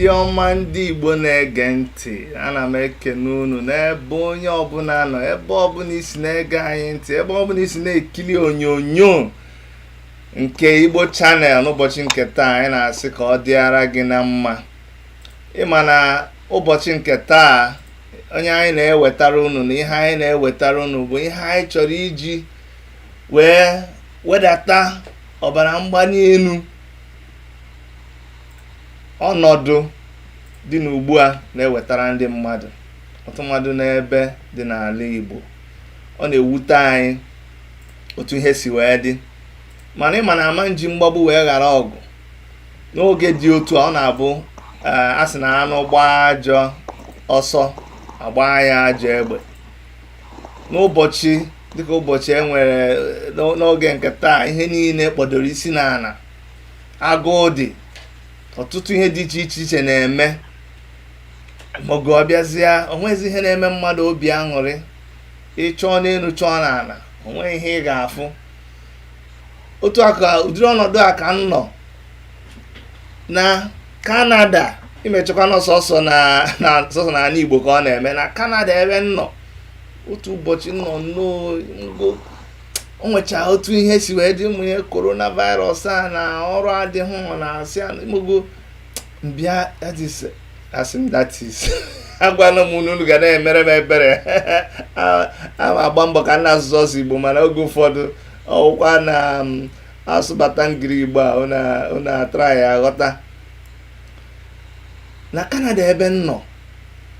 ndị ọma ndị Igbo na-ege ntị ana m ekene unu n'ebe onye ọbụla nọ ebe ọbụla i si na-ege anyị ntị ebe ọbụla i si na-ekiri onyonyo nke Igbo channel n'ụbọchị nke taa anyị na-asị ka ọ dịara gị na mma ị ma na ụbọchị nke taa onye anyị na-ewetara unu na ihe anyị na-ewetara unu bụ ihe anyị chọrọ iji wee wedata ọbara mgbali elu ọnọdụ dị n'ugbu a na-ewetara ndị mmadụ ọtụtụ mmadụ n'ebe dị n'ala Igbo ọ na-ewute anyị otu ihe si wee dị mana ị ma na a ma nji mgbagbu wee ghara ọgụ n'oge dị otu a ọ na-abụ eh, a sị na anụ gbaa ajọ ọsọ a gbaa ya ajọ egbe n'ụbọchị dịka ụbọchị e nwere eh, n'oge nke taa ihe niile kpọdoro isi n'ala agụụ dị ọtụtụ ihe dị iche iche iche na-eme ma oge ọ bịazịa o nwezi ihe na-eme mmadụ obi aṅụrị ị chọọ n'elu chọọ n'ala o nweghị ihe ị ga-afụ otu a ka ụdịrị ọnọdụ a ka m nọ na kanada ị ma echekwa na ọ sọsọ na na sọsọ na ala igbo ka ọ na-eme na kanada ebe m nọ otu ụbọchị m nọ n'ụnọ o nwechaa otu ihe si wee dị ụmụ ihe coronavirus a na ọrụ adịghị ọ na-asị a- imogo m bịa that is asị m that is agwala m unu unu ga na-emere m ebere ana m agba mbọ ka m na-asụ sọsọ igbo mana oge ụfọdụ ọ wụkwa na um, asụbata ngiri igbo a unu a try-a ghọta na kanada ebe m nọ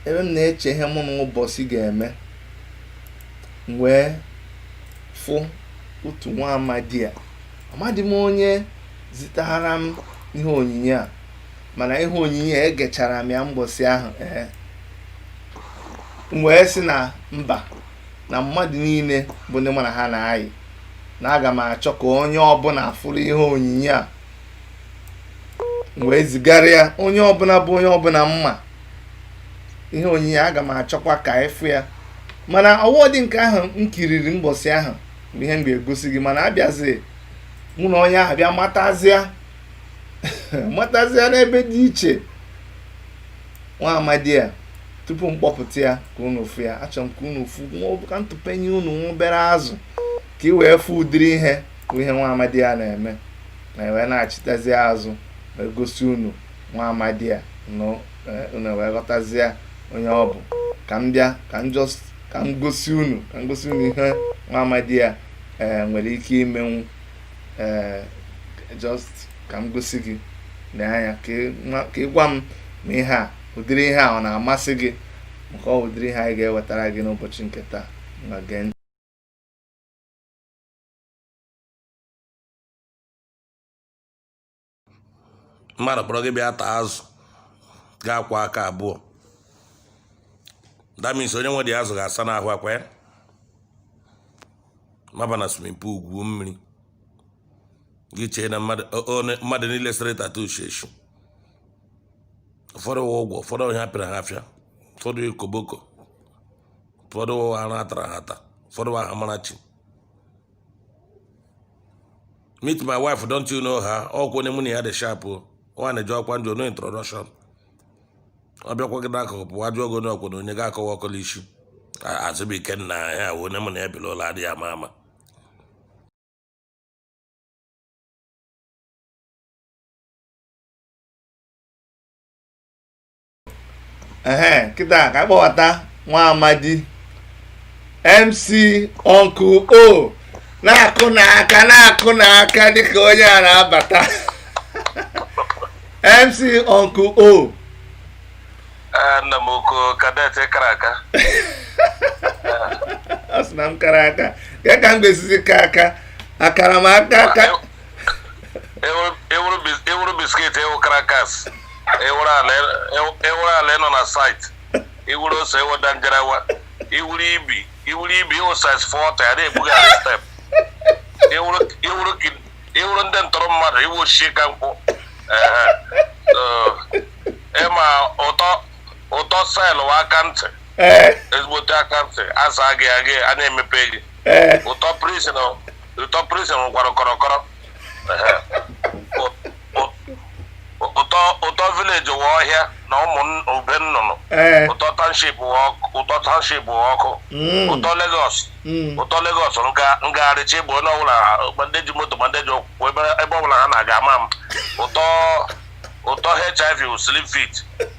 ebe m na-eche ihe mụ na ụbọchị ga-eme m wee fụ otu nwa amadi a amadị m onye zitara m ihe onyinyo a mana ihe onyinyo a egechara m ya mbọsị ahụ ee m wee sị na mba na mmadụ niile bụ ndị mụ na ha na-ayị na aga m achọ ka onye ọbụla fụrụ ihe onyinyo a m wee zigara ya onye ọbụla bụ onye ọbụla m ma ihe onyinyo a aga m achọkwa ka ị fụ ya mana ọ wụwadị nke ahụ m kiriri mbọsị ahụ bụ ihe m ga-egosi gị mana abịazi mụ na onye ahụ bịa matazịa matazịa n'ebe dị iche nwa amadi a tupu m kpọpụta ya ka unu fụ ya achọrọ m ka unu fụ ka m tụpenye unu obere azụ ka ị wee fụ ụdịrị ihe bụ ihe nwa amadi a na-eme na e wee nachitazịa azụ wee gosi unu nwa amadi a eh, unu wee ghọtazie onye ọ bụ ka m bịa ka m just ka m gosi unu ka m gosi unu ihe nwa amadi a ee nwere ike imenwu ee just ka m gosi gị lee anya ka ị gwa m ma ihe a ụdịrị ihe a ọ na-amasị gị maka ọ wụ ụdịrị ihe anyị ga-ewetara gị n'ụbọchị nke taa na gee ntị mmadụ kpọrọ gị bịa taa azụ ga-akwa aka abụọ damis onye nwe dị azụ ga-asa n'ahụ akwa ya maba na swimming pool gwuo mmiri gị chee na mmadụ niile sere tattoo sheshi ụfọdụ ụwa ụgwọ ụfọdụ onye apịara ha afịa ụfọdụ koboko ụfọdụ ụwa ha na-atara ha ata ụfọdụ ụwa ha mara chi meet my wife don't you know her ọ kwa onye mụ na ya dị sharp o nwaanyị jọọkwa njọ no introduction ọ bịakwa gị n'akụkụ pụwa jụọ gị onye ọkwụna onye ga-akọwa ọkọla isi azụbụike nna ya wụ onye mụ na ya bi la ụlọ adịghị ama ama ehe kịta ka a kpọbata nwa amadi mc ọnkụ o na-akụnụ aka na-akụnụ aka dịka onye a na-abata mc ọnkụ o Ee, nna m oko kadet kara aka ọ sị na m kara aka kee ka m ga-esizi kaa aka akara m aka aka ị wụrụ biscuit ị wụ crackers ị wụrụ ala ị nọ na site ị wụrụ ose ị wụ danjarawa ị wụrụ ibi ị wụrụ ibi ị wụ size forty a na-ebugharị step ị wụrụ ndị ntọrọ mmadụ ị wụ Osisikankwụ ị ma ụtọ ụtọ cell wụ aka ntị ezigbote aka ntị asa gị agị a na-emepe gị ụtọ prison ụtọ prison nwekwara kọrọkọrọ Ehe. Ụ- ụ- ụtọ ụtọ village wụ ọhịa na ụmụ nn- ube nnụnụ ee ụtọ township wụ ọkụ ụtọ township wụ ọkụ Mm. ụtọ Lagos Mm. ụtọ Lagos nga ngagharị chi bọọ onye ọbụla ma ndị ji moto ma ndị ji ụkwụ ebe ebe ọbụla ha na-aga ama m ụtọ ụtọ HIV wụ slim fit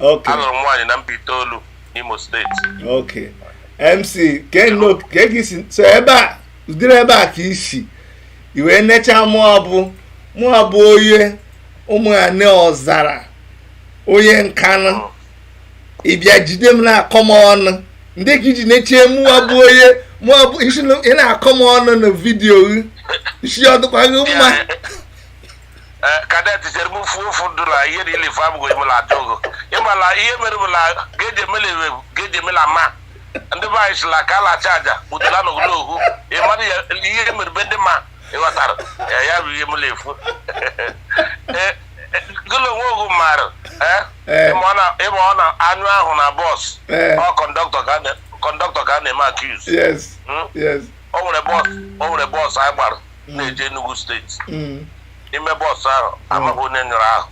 Okay. Alụrụ m nwaanyị na Mbaitoli n'Imo steeti. Okay. MC Keno ka egi si so ebe a ụdịrị ebe a ka i si wee nechaa mụa bụ mụa bụ onye ụmụ ya ne Ọzara onye Nkanụ ị bịa jide m na-akọ m ọnụ ndị ka i ji nechie mụa bụ onye mụa bụ i si na- ị na-akọ m ọnụ na vidiyo gị ị sị ọ dịkwa gị mma Eh, kadet chere m fuo ofu ndụ na ihe na ilife abụghị m na-ajụ ogo ị mala ihe mere bụ na geji emela ewe geji emela ma ndị be anyị sila ka ala acha aja kpụtara na ogolo okwu ị mara ya ihe mere be ndị ma ị ghọtara ya ya bụ ihe m na-efu Eh, eh, gụlụ onwe ogu maara eh, Eh. ị ma na- ị ma na a nyụọ ahụ na bọs Eh. ọ kọndọktọ ka a na- kọndọktọ ka a na-eme accuse yes Mm. yes o nwere bọs o nwere bọs anyị gbara na-eje Enugu steeti Mm. n'ime bọs ahụ amaghị onye nyụrụ ahụ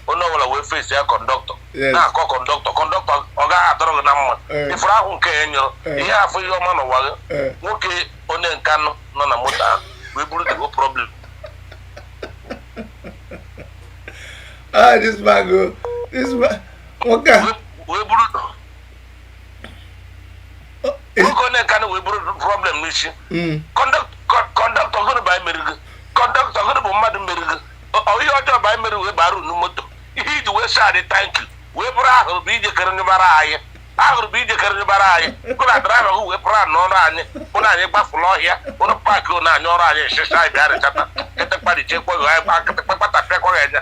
onye ọbụla wee fesia kọndọktọ Yes. na-akọ kọndọktọ kọndọktọ ọ gaghị adịrị gị na mma Eh. ị fụrụ ahụ nke a ị nyụrụ Eh. ị ya-afụ ihe ọma n'ụwa gị Eh. nwoke onye Nkanụ nọ na moto ahụ wee buru the whole problem ah this man go this man nwoke a wee buru nwoke onye Nkanụ a wee buru problem n'isi mm. kọndọktọ gụnụ bụ anyị mere gị kọndọktọ gụnụ bụ mmadụ mere gị ihe ọjọọ bụ anyị mere wee bara unu moto ihe i ji wee sị anyị thank you wee bụrụ ahụrụ bụ ijekere nyụbara anyị ahụrụ bụ ijekere nyụbara anyị gụ na draiva gụ wee pụrụ anụ ọrụ anyị ụnụ anyị gbafụrụ ọhịa ụnụ paakị ụnụ anyị ọrụ anyị nsịsa anyị bịa rịchata kịtịkpa richekwaghị anyị kpa kịtịkpa kpatapịakwaghị anya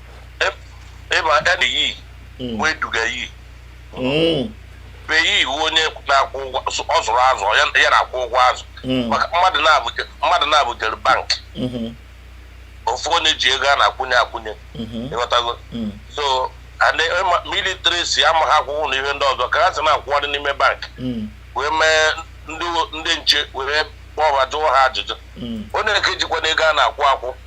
ịba ede yi hmm. wee duga yi hmm. be yi ị wụ onye na-akwụ ụgwọ ọ zụrụ azụ ya na-akwụ ụgwọ azụ hmm. maka mmadụ na-abụ jere bank ọ fụ onye ji ego a na-akwụnye akwụnye ị ghọtago some illiterates amaghị akwụkwọ na ihe ndị ọzọ ka ha si na-akwụgharị n'ime bank wee mee ndị nche were kpọọ ha jụọ ha ajụjụ onye nke jikwa na ego a na-akwụ akwụ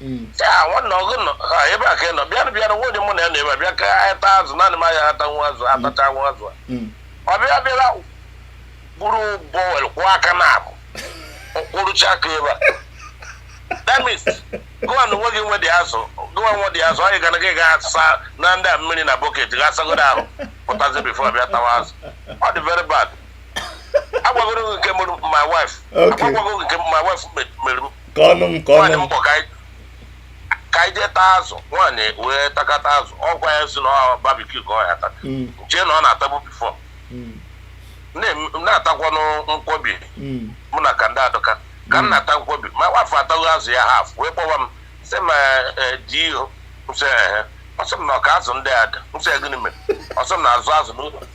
Mm. ya nwanne gụ nọ ha ebe a ka ị nọ bịanụ bịanụ nwa onye mụ na ya nọ ebe a bịa ka anyị taa azụ naanị m anya ata nwa azụ atacha nwa azụ a. Mm. ọ bịa bịara buru bowl kwọọ aka na abụ kwọrọcha aka ebe a damis gụwa na onwe gị nwe dị azụ gụwa nwe dị azụ anyị gara gị ga asa na ndị a mmiri na bọket ga asagodo ahụ pụtazi bifo bịa tawa azụ ọ dị very bad agwagoro gị nke mụrụ my wife Okay. agwagwago gị nke my wife me- mere m ka ọnụ m ka nwaanyị ọnụ m m kpọ ka anyị- ka anyị jee taa azụ nwaanyị wee takata azụ ọ kwa ya sị na ọ barbecue ka ọ ya-ata Mm, m chee na ọ na-atabu before mm, na-em- na-atakwanụ nkwobi mm, mụ na ka ndị adụka ka m na-ata nkwobi ma nwa afụ ataghị azụ ya half wee kpọwa m sị m eh, di ihu m sị ehe ọ sị m na ọ ka azụ ndị a dị m sị ya gịnị mere ọ sị m na azụ azụ n'ụlọ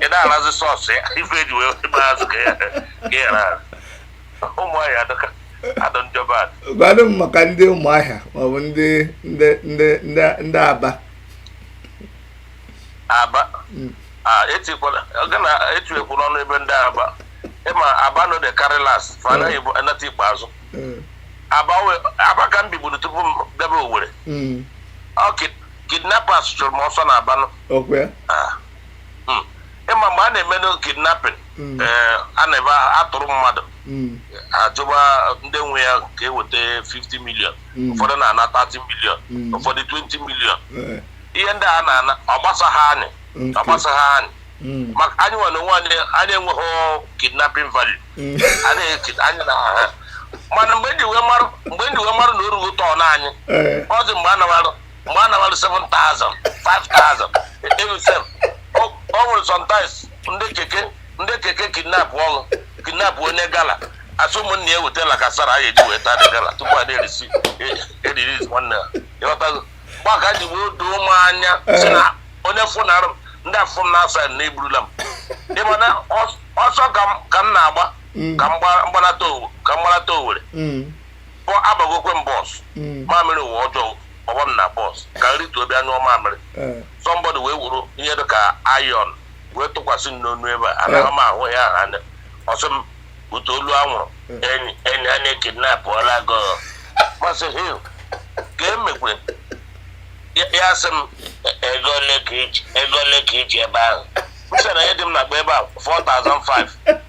ị na-arazi sauce ya ife e ji wee gba azụ ka ya ghara ụmụ anyị adọka adọ njọba adị gwanụ m maka ndị ụmụahịa maọbụ ndị ndị ndị ndị ndị aba aba a etikwala oge na etuekwu n'ọnụ ebe ndị aba ị ma aba no dey carry last fa anaghị bụ anata ikpe azụ Mm, aba we- aba ka m biburu tupu m bịaba owere mm, okay kidnappers chụrụ m ọsọ n'abanụ okwe Ah. Mm. ịma mgbe a na-emenụ kidnapping Mm. eh, a na-ebe a tụrụ mmadụ Mm, a jụba ndị nwe ya ka e weta 50 million Mm. ụfọdụ na-ana 30 million Mm. ụfọdụ 20 million eh, ihe ndị a na-ana ọ gbasaghị anyị Mm. ọ gbasaghị anyị mm, maka anyị nwa onwe anyị anyị enweghị kidnapping value mm. anyị eki- anyị na ha mana mgbe m ji wee marụ mgbe m ji wee marụ na o rugo turn anyị Eh, ọ dị mgbe a na-arụ mgbe a nabalụ 7,000 5,000 elusef o nwere sometimes ndị keke ndị keke kidnapụrụ kidnap onye gala a sị ụmụnne ya wete La Casera a ga-eji wee taa the gala tupu a na-release-iri nwanne ya ị ghọtago mgbe a ka o ji wee doo m anya sị na onye fụ na arụ ndị afọ m na-asa na eburula m ị ma na ọsọ ka m na-agba ka m gbanata owere ọ agbagokwe m bus mm. mamịrị ụwa ọjọọ ọgbọ m na bus ka m rituo bịa nyụọ mamịrị eh. somebody wee wuru ihe dị ka iron wee tụkwasị m n'onu ebe a anaghị eh. m ahụ ya anya ọ sị m bute olu anwụrụ eh. enyi enyi a na e kidnapụọla gị m asị hil ka e mekwe ya sị m e, ego ole ka i ji ebe ahụ m sị na ihe dị m n'akpa ebe a 4005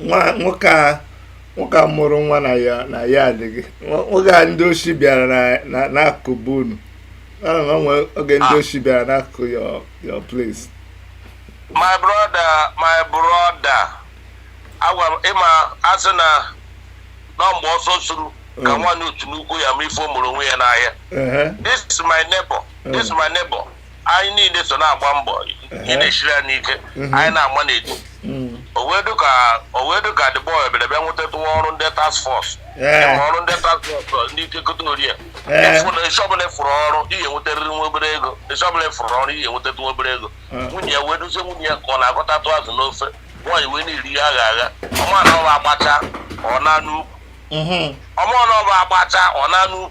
nwa nwoke a nwoke a mụrụ nwa na ya na ya adịghị Nwa- nwoke a ndị oshi bịara na- na- n'akụkụ be unu na e nwe oge ndị Ah. oshi bịara n'akụkụ your your place my brother my brother agwara m ị ma a sị na ọ mgbe ọsọ suru ka Mm. nwaanyị otu nnukwu ya-ama ife o merụ onwe ya n'ahịa Ehe. this is my neighbor this is my neighbor anyị niile so na-agba mbọ ihe na-esiri anyị ike anyị na-agba n'etu o wee dụ ka o wee dụ ka the boy bịara bịa nwetatụ nwa ọrụ ndị task force Ee. ma ọrụ ndị task force ndị ike keta orie Ee. Ịfụ na isi ọbụla ị fụrụ ọrụ ị ya enwetarịrị nwa obere ego isi ọbụla ị fụrụ ọrụ ị ya enwetatụ nwa obere ego nwunye ya wee duzie nwunye ya ka ọ na-agọtatụ azụ n'ofe nwaanyị wee na-eri ihe aghara aghara ọ ma na ọ bụ agbachaa ọ naa n'ukwu Mhm. ọ ma na ọ bụ agbachaa ọ naa n'ukwu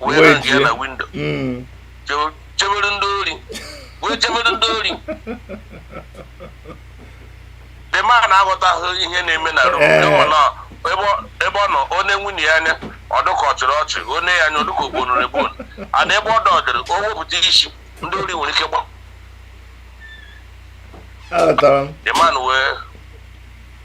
wee nọ nke ya na windo hmm. chebere ndị ori wee chebere ndị ori the man aghọtaghị ihe na-eme na room ebe ọ nọ o nee nwunye ya anya ọ dụ ka ọ chịrị ọchị o nee ya anya ọ dụ ka ogbonụrụ egbon and ebe ọ dọdịrị o wepụta isi ndị ori nwere ike gba the man wee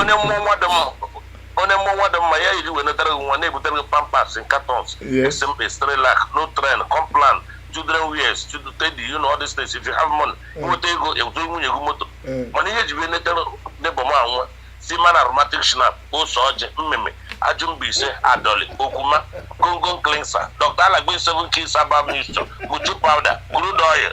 onye mụọ nwa dị mma onye mụọ nwa dị mma ihe e ji wee netara gị nwa na-ebutere gị pampers in cartons esi mkpe cerelac nutrend complan children wears children teddy you know all these things if you have money nweta ego eweta nwunye gị moto mana ihe e ji wee netara the boy nwa seaman aromatic schnapps ose ọjị mmemme ajụ mbaise adọli okwuma goko cleanser dr aladdin seven keys herbal mixture moju powder crude oil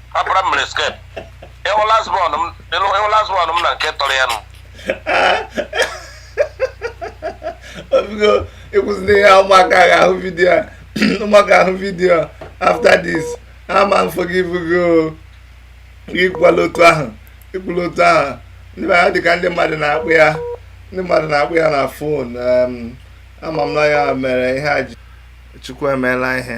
apụra mmiri skep ịhụ last born m ịlụ- ịhụ last born m na nke tọrọ ya nụ obigo ịkwụsịna ihe ụmụaka ga-ahụ vidiyo a ụmụaka ahụ vidiyo after this ama m forgive gị o ikwukwala otu ahụ ikwula otu ahụ ndị mmadụ dịka ndị mmadụ na-akpọ ya ndị mmadụ na-akpọ ya na phone ama m na ya mere ihe a ji chukwu emeela ihe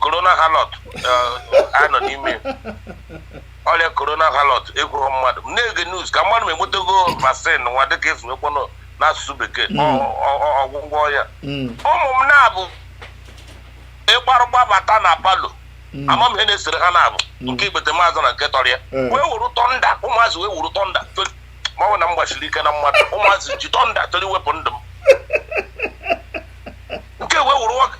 corona halọt eh, a nọ n'ime ọrịa corona halọt ekwughị mmadụ m na-ege news ka m madụ ma enwetago vaccine nwa dịka esi ekwukwanụ n'asụsụ bekee hmm. ọgwụgwọ ya hmm. ụmụ m naabọ ịgbarụ gbabata na parlour hmm. ama m ihe na-esere ha naabọ nke ikpete m azụ na nke tọrọ ya eh. wee wuru thunder ụmụazị wee wuru thunder ma ọ wụ na m gbasiri ike na mmadụ ụmụazị ji thunder chọrọ iwepụ ndụ m nke wee wuru nwoke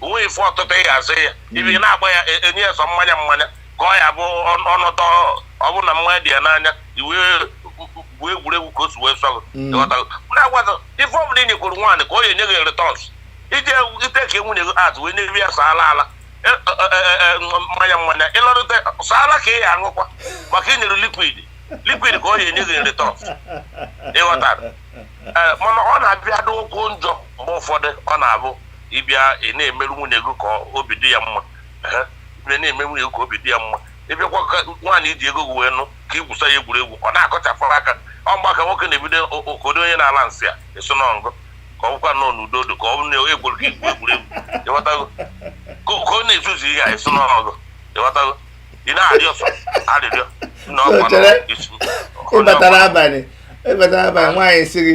o nwe ife ọtụtụ ị ga-azụ ya hmm. ị bịa na-agba ya e, enye ya sọ mmanya mmanya ka ọ ya bụ ọnụtọ ọ bụ na mmanya dị ya n'anya i wee gwuo egwuregwu ka o si wee sọ hmm. na-agwazo ife ọbụla ị nyekwuru nwaanyị ka ọ ya enye gị returns ije ite ka nwunye gị atụ wee nyebe ya sọ ala ala e, mmanya mmanya ịlọrụta sọ ala ka ị ya aṅụkwa maka ị nyere liquid liquid ka ọ ya enye gị returns ị ghọtara mana ọ na-abịa dịkwu njọ mgbe ụfọdụ ọ na-abụ ịbịa ị na-emeru nwunye gị ka obi dị ya mma ị na-eme nwunye gị ka obi dị ya mma ịbịakwa ka nwaanyị iji ego gị wee nụ ka ị gwusa ya egwuregwu ọ na-akụchapụ aka ọ mgbe a ka nwoke na-ebido okodo onye na-ala nsị a eso na ngụ ka ọ bụkwa nọ n'udo dị ka ọ bụrụ na egwuru gị igwu egwuregwu ịghọtago ka ọ na-ezuzu ihe a eso na ngụ ịghọtago ị na-arịọ sọ arịrịọ na ọkwa na ịbatara abalị ịbatara abalị nwaanyị si gị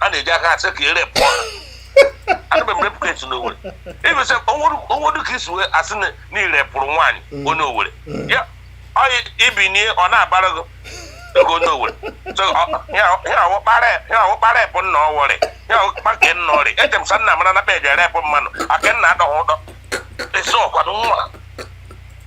a na-eji aka asị ka ere pụọ adịbe m repụ kesi n'owere ịbụsị onwedu ka isi wee asị na na ire pụrụ nwaanyị onye owere ya ọyị ibinie ọ na-abara gị ego onye owere so ọ- ya ya ọwụkpara ya ọwụkpara epụ nna ọwọrị ya ọwụkpa nke nna ọrị eche m sa nna mara na peji ere epụ mmanụ aka nna adọghị ụdọ esi ọkwado nwa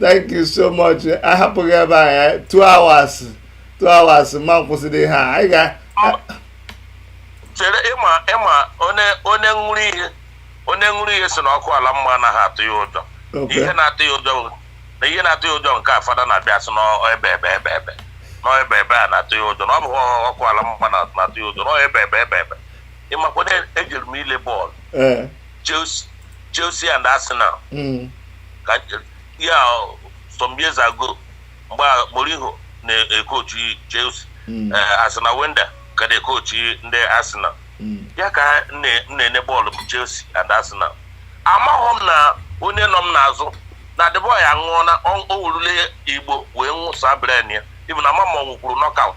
thank you so much a hapụ gị ebe a ya two hours two hours ma kwụsịrị ihe a anyị ga chere ịma ịma onye onye ṅụrụ ihe onye ṅụrụ ihe si na ọkụ ala mma anaghị atụ ya ụjọ Okay. ihe na-atụ ya ụjọ bụ- na ihe na-atụ ya ụjọ nke fada na-abịa sị n'ebe ebe ebe ebe n'ebe ebe a na-atụ ya ụjọ na ọ bụ ọkụ ala mma na- na-atụ ya ụjọ n'ebe ebe ebe ebe ịmakwa na ejere m ile bọọlụ ee Chelsea Chelsea and Arsenal mm. ka ya some years ago mgbe Mourinho na-ekochi Chelsea mm. eh, Arsene Wenger ka na-ekochi ndị Arsenal mm. ya ka m na-ele bọọlụ bụ Chelsea and Arsenal amaghị m na onye nọ m n'azụ na the boy aṅụọna o wurule igbo wee nwụsa bren ya ibu na mama ọ nwụkwuru nọkaụt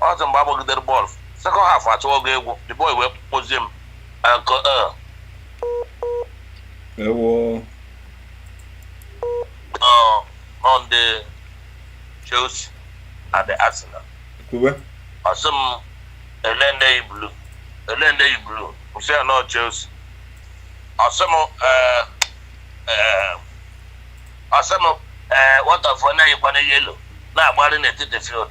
ọ sị mgbe a gbagidere bọọlụ sekọnd haf achọwa ọgwụgwụ the boy wee kpọzie m nke e Ewo. nọ nọ ndị Chelsea na ndị Arsenal Kwuwe. ọ sị m ele ndị yi blu ele ndị yi blu m sị ya na ọ Chelsea ọ sị m eh, eh, ọ sị m eh, what of onye yikwana yelo na-agbagharị n'etiti field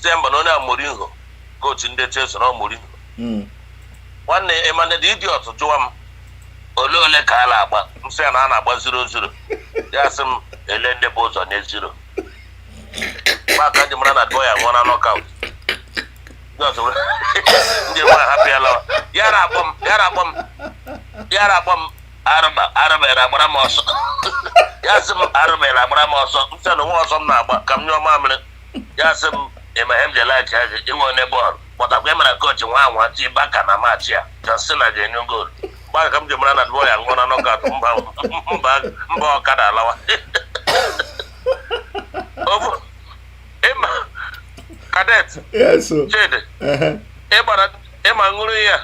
sị ya mba na onye a Mourinho kochi ndị Chelsea na ọ Mourinho hmm. nwanne ịma na the idiot jụwa m ole ole ka a na-agba m sị ya na a na-agba ziro ziro ya sị m ele ndị bu ụzọ nye ziro mgbe a ka m ji mara na the boy aṅụọna nọkaut ndị mara hapụ ya lawa ya na-akpọ m ya na-akpọ m ya na-akpọ m arụba arụbere agbara m ọsọ ya sị m arụbere agbara m ọsọ m sị na o nweghị ọsọ m na-agba ka m nyụọ mamịrị ya sị m ịma ihe m ji laik ya gị ị wụ onye bọọlụ kpọtakwa ịmara kochi nwa anwa tiba aka na maachị a John Cena ga-enye goolu mgbe a ka m ji mara na the boy aṅụọna nọkaut mba mba mba ọkada alawa ofu ịma kadet yes o chidi ehe ịgbara ịma ṅụrụ ya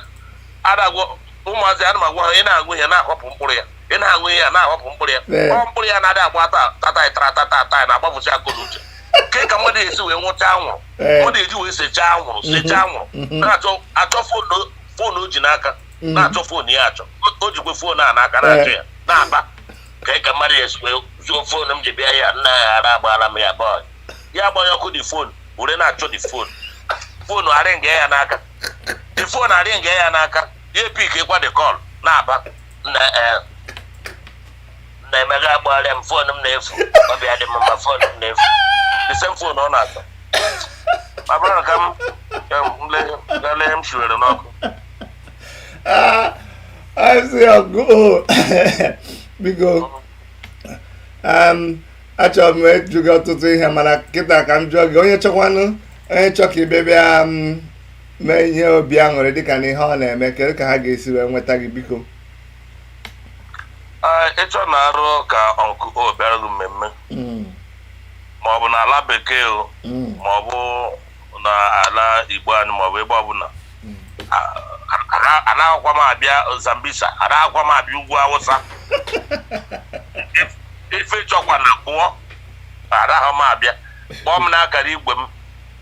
adị m agwa ụmụazị ana m agwa ha ị na-aṅụ ihe na-ahọpụ mkpụrụ ya ị na-aṅụ ihe a na-ahọpụ mkpụrụ ya Ee. ọ mkpụrụ ya na-adị agba ta tata tara tata tata na-agbapụcha akọ na uche kee ka mmadụ esi wee ṅụcha anwụrụ Ee. mmadụ eji wee sechaa anwụrụ sechaa anwụrụ na-achọ achọ foonu foonu o ji n'aka na-achọ foonu ya achọ O- o jikwe foonu a n'aka na-achọ ya na-aba ka ka mmadụ ya esikwe zuo fon m ji bịa ya nna ya ara agbaala m ya bọị ya gbanye ọkụ the fon were na-achọ the fon fon arị nga ya n'aka the fon arị nga ya n'aka ya epickikwa the call na-aba nna eh, nna emega agbaala m fon m na-efu obi adị m mma fon m na-efu the same fon ọ na-ata ma bụrụ na ka m ka m lee- gaa lee m shiwere n'ọkụ Ah, I'm so old. Biko, um, achọrọ m ịjụ gị ọtụtụ ihe mana kịta ka m jụọ gị onye chọkwanụ onye chọ ka ị bị- bịa um, mee ihe obi aṅụrị dịka na ihe ị na-eme kedu ka ha ga-esi wee nweta gị biko Ee, ị chọọ na arụ ka ọnkụ o bịara gị mmemme Mm, ma ọ bụ n'ala bekee o mm, ma ọ bụ n'ala Igbo anyị maọbụ ebe ọbụla anaghịkwa m abịa Zambisa anaghịkwa m abịa ugwu Awụsa if ị chọkwa na-akpọ anaghị m abịa kpọọ m n'akara igwe m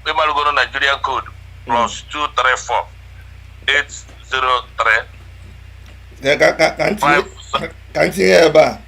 ị marụgoro Nigerian code plus 234 803 ka m tinye ebe a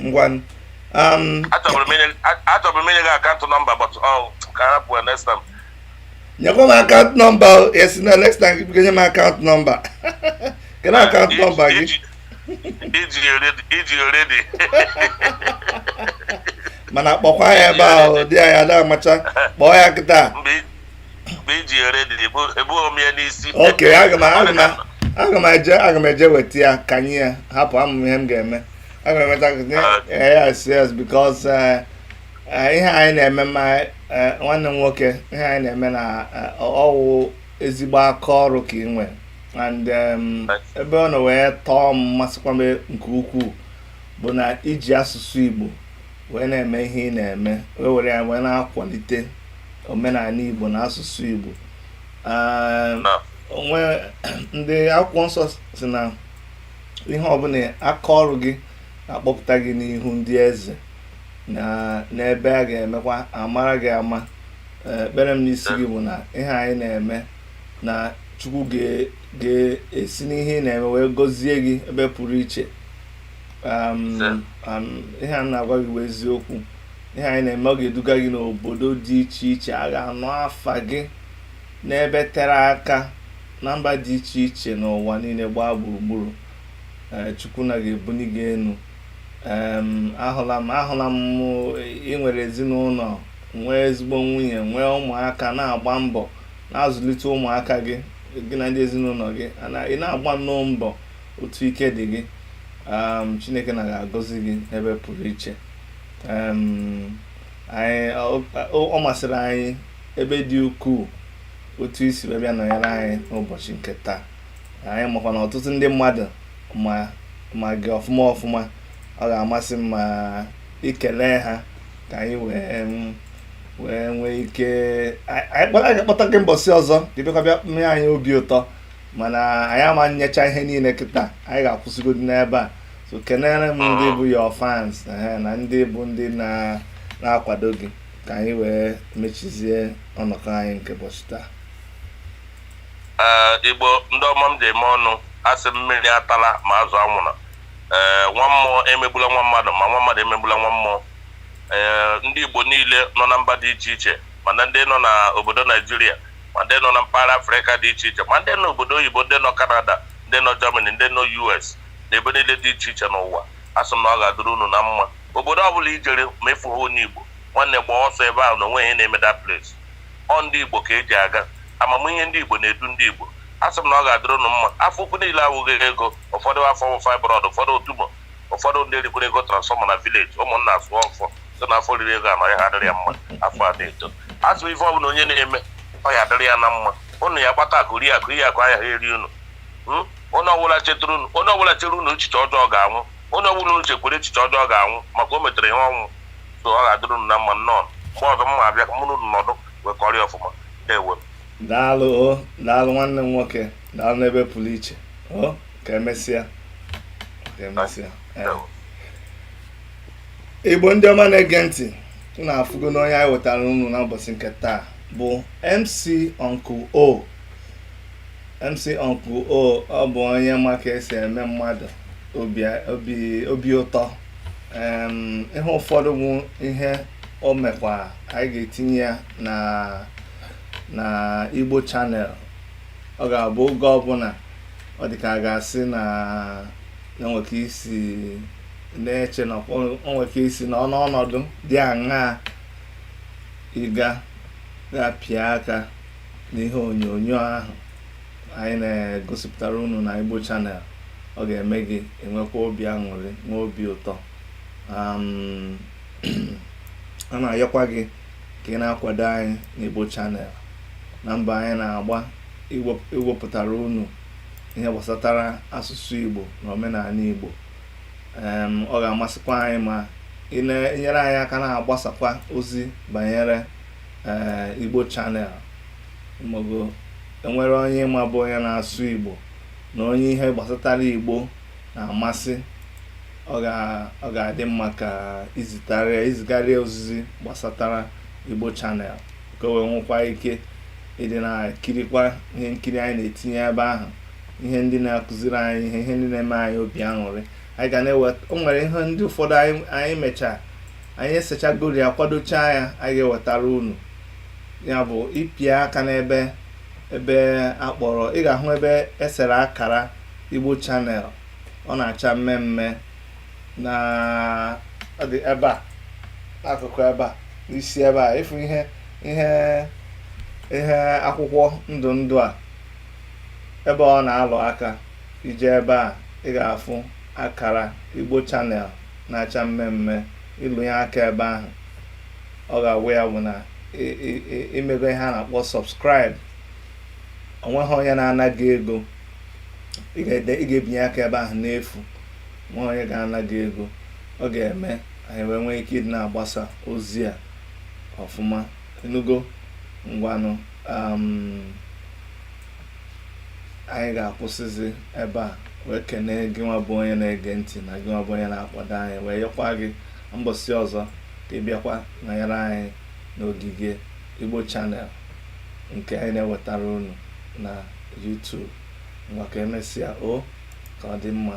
ngwanụ um, achọbụrụ m inye- a- achọbụrụ m inye gị akaụntụ nọmba but okay hapụ next time nyekwa m akaụntụ nọmba o a sị na next time gị nye m akaụntụ nọmba kedu akaụntụ nọmba gị Ị dị- ị dị ready ị dị ready mana kpọkwa ya ebe ahụ dị ya ya da amacha kpọọ ya kịta mgbe mgbe ị dị ready ebuhọ m ya n'isi okay aga m eje aga m eje weta ya ka m nye ya hapụ ama m ihe m ga-eme aga m emeta yes yes because eh, eh, ihe anyị na-eme ma eh, nwanne m nwoke ihe anyị na-eme na ọwụ ezigbo aka ọrụ ka ị nwere and um, ebe ọ nọ wee tọọ m masịkwa m nke ukwuu bụ na i ji asụsụ Igbo wee na-eme ihe ị na-eme wee were ya wee na-akwalite omenala Igbo na asụsụ Igbo o nwe ndị akwụkwọ nsọ sị na ihe ọbụla aka ọrụ gị akpọpụta gị n'ihu ndị eze na n'ebe a ga-emekwa a mara gị ama ekpere m n'isi gị bụ na ihe anyị na-eme na chukwu ga-esi n'ihe ị na-eme wee gọzie gị ebe pụrụ iche ihe a m na-agwa gị bụ eziokwu ihe anyị na-eme ọ ga-eduga gị n'obodo dị iche iche a ga-anụ afa gị n'ebe tere aka na mba dị iche iche n'ụwa niile gbaa gburugburu eh, chukwu na ga-ebuli gị enu ahụla m ahụla m i nwere ezinụnọ nwee ezigbo nwunye nwee ụmụaka na-agba mbọ na-azụlite ụmụaka gị gị na ndị ezinụnọ gị ị na-agba nnọọ mbọ otu ike dị gị chineke na ga-agọzi gị n'ebe pụrụ iche ọ masịrị anyị ebe dị ukwuu otu i si wee bịa nọnyere anyị n'ụbọchị nke taa anyị makwa na ọtụtụ ndị mmadụ ma gị ọfụma ọfụma ọ ga-amasị m ma i kelee ha ka anyị wee wee nwee ike anyị kpọta gị mbọsị ọzọ ka ị bịakwa bịa mee anyị obi ụtọ mana anyị ama nyecha ihe niile kịta anyị ga-akwụsịgodi n'ebe a so kenere m ndị bụ your fans ehe, na ndị bụ ndị na na-akwado gị ka anyị wee mechizie ọnọkọ anyị nke ụbọchị taa ee igbo ndị ọma m ji eme ọnụ asị m mmiri atala ma azụ anwụna ee nwa mmụọ emegbula nwa mmadụ ma nwa mmadụ emegbula nwa mmụọ ee ndị igbo niile nọ na mba dị iche iche mana ndị nọ na obodo naịjirịa ma ndị nọ na mpaghara afrịka dị iche iche ma ndị nọ obodo oyibo ndị nọ kanada ndị nọ germany ndị nọ us na ebe niile dị iche iche n'ụwa, a sị m na ọ ga-adịrị unu na mma. Obodo ọbụla i jere ma ị fụghị onye Igbo, nwanne gbaa ọsọ ebe ahụ na o nweghị ihe na-eme that place. Ọ ndị Igbo ka e ji aga. Amamihe ndị Igbo na-edu ndị Igbo. A sị m na ọ ga-adịrị unu mma. Afọ ukwu niile awụghị ego. Ụfọdụ afọ wụ fibroid, ụfọdụ wụ tumor, ụfọdụ ndị erikwere ego transformer na village. Ụmụnna sụọ ọfọ sị na afọ riri ego a na ọ ya ha adịrị ya mma afọ a na-eto. A sị m ife ọbụla onye na-eme ọ ya adịrị ya na mma. Unu ya gbata akụ rie akụ, iyi akụ anaghị eri unu. Hmm? onye ọbụla chetara unu onye ọbụla chere unu echiche ọjọọ ga-anwụ onye ọbụla unu chekwere echiche ọjọọ ga-anwụ maka o metere ihe ọnwụ so ọ ga-adịrị unu na mma nnọọ mgbe ọzọ m ma-abịa ka mụ na unu nọdụ wee kọrịa ọfụma ndewo daalụ o daalụ nwanne m nwoke daalụ n'ebe pụrụ iche o ka emesịa ka emesịa ee. igbo ndị ọma na-ege ntị unu afụgo na onye anyị wetara unu n'ụbọchị nke taa bụ mc uncle o MC Uncle O ọ bụ onye ma ka e si eme mmadụ obi obi obi ụtọ Em, ihe ụfọdụ bụ ihe o mekwa anyị ga-etinye ya na na Igbo Channel ọ ga-abụ oge ọbụla ọ dị ka a ga-asị na na nwere ka i si na-eche na o nwere ka i si na ọnụ ọnọdụ dị aṅaa ị ga ga-apịa aka n'ihe onyonyo ahụ anyị na-egosipụtara unu na Igbo Channel ọ ga-eme gị enwekwa obi aṅụrị nwee obi ụtọ a na-ayọkwa gị ka ị na-akwado anyị n'Igbo Channel na mbọ anyị na-agba iwepụtara unu ihe gbasatara asụsụ Igbo na omenala Igbo ọ ga-amasịkwa anyị ma ị na-enyere anyị aka na-agbasakwa ozi banyere ee Igbo Channel ma ọ bụ e nwere onye ị ma bụ onye na-asụ Igbo na onye ihe gbasatara Igbo na-amasị ọ ga-adị mma ka i zitara ya i zigara ya ozizi gbasatara Igbo Channel ka o wee nwekwa ike ịdị na-ekirikwa ihe nkiri anyị na-etinye ebe ahụ ihe ndị na-akụziri anyị ihe ihe ndị na-eme anyị obi aṅụrị anyị ga na-eweta o nwere ihe ndị ụfọdụ anyị mechaa anyị esechagoro ya kwadochaa ya anyị ga-ewetara unu ya bụ ịpịa aka n'ebe ebe a kpọrọ ị ga-ahụ ebe e sere akara Igbo Channel ọ na-acha mmee mmee na ebe a n'akụkụ ebe a n'isi ebe a ị fụ ihe ihe ihe akwụkwọ ndụ ndụ a ebe ọ na-alụ aka i je ebe a ị ga-afụ akara Igbo Channel na-acha mmee mmee ị lụ ya aka ebe ahụ ọ ga-awụ ya bụ na i mego ihe a na-akpọ subscribe o nweghị onye na-ana gị ego ị ga-ebinye aka ebe ahụ n'efu o nweghị onye ga-ana gị ego ọ ga-eme anyị wee nwee ike ịdị na-agbasa ozi a ọfụma ị nụgo ngwanụ um, anyị ga-akwụsịzi ebe a wee kenee gị nwa bụ onye na-ege ntị na gị nwa bụ onye na-akwado anyị wee yọkwa gị mbọsị ọzọ ka ị bịakwa nọnyere anyị n'ogige Igbo Channel nke anyị na-ewetara unu na YouTube ngwa ka e mesịa o ka ọ dị mma